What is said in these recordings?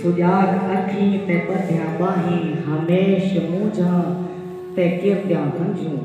سجاٹ اکھیں تے ٻدھیاں ٻانہیں ہمیش مونجھاں تے کردیاں ہنجھوں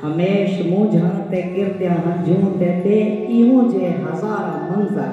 ہمیش مونجھاں تے کردیاں ہنجھوں تے ٻئے ایہوں جئے ہزاراں منظر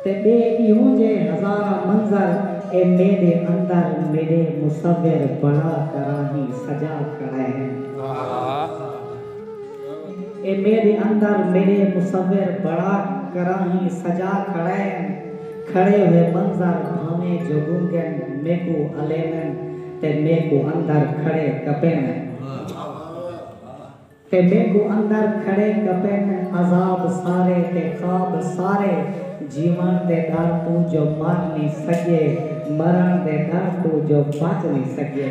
تے ٻئے ایہوں جئے ہزاراں منظر اے میݙے اندر میݙے مصور بڑا کراہیں سجا کھڑے ہیں۔ اے میݙے اندر میݙے مصور بڑا کراہیں سجا کھڑین کھڑے ہوئے منظر بھانویں جو گنگن میکو الیمن تے میکو اندر کھڑے کپیمن تے میکو اندر کھڑے کپین عذاب سارے تے خواب سارے جیون دے ڈر توں جو مر نی سگیے مرن دے ڈر توں جو بچ نی سگیے۔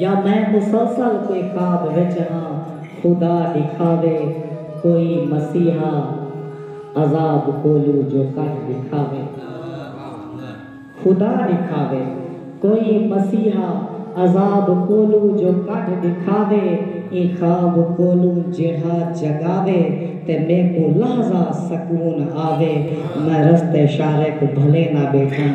یا میں مسلسل کوئی خواب وچ ہاں خدا ڈکھاوے کوئی مسیحا عذاب کولو جو کڈھ ڈکھاوے خدا ڈکھاوے کوئی مسیحا عذاب کولو جو کڈھ ڈکھاوے ایں خواب کولو جیڑھا جگاوے تے میکو لحظہ سکون آوے میں رستے شارق بھلے نہ بیٹھاں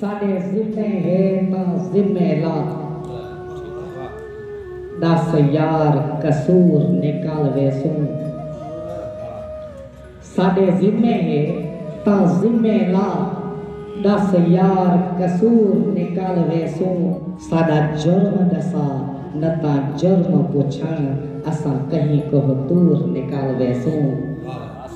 ساݙے ذمے ہے تاں ذمے لا ݙس یار قصور نکل ویسوں ساݙے ذمے ہے تاں ذمے لا ݙس یار قصور نکل ویسوں۔ ساݙا جرم ݙسا نتاں جرم پچھݨ اساں کہیں کوہ طور نکل ویسوں۔